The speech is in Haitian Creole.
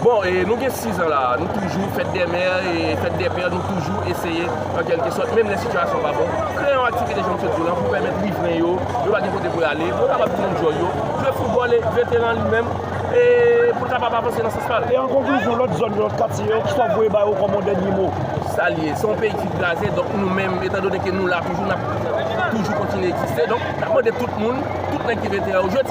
Bon, e nou gen 6 an la a, nou toujou, fèt dè mè, e fèt dè pè, nou toujou eseye, an kèlke sòt, menm lè sitiyasyon pa bon, kreye yon aktivite jan m sot di w lan pou pèmèt rivren yo, yo pa gen kote pou y ale, pou yo kapab tounen djòl yo, jwe foutbòl e veteran li menm, e pou l kapab avanse nan sans pa l. E an konklizyon, lòt zòn yo, lòt katye yo, kisa w ap voye ba yo kòm yon dènye mo? Sa l ye, se yon peyi ki kraze, donk nou menm, etan done ke nou la toujou, n ap toujou kontinye egziste, donk n ap mande tout moun, tout nèg ki veteran yo, jodi.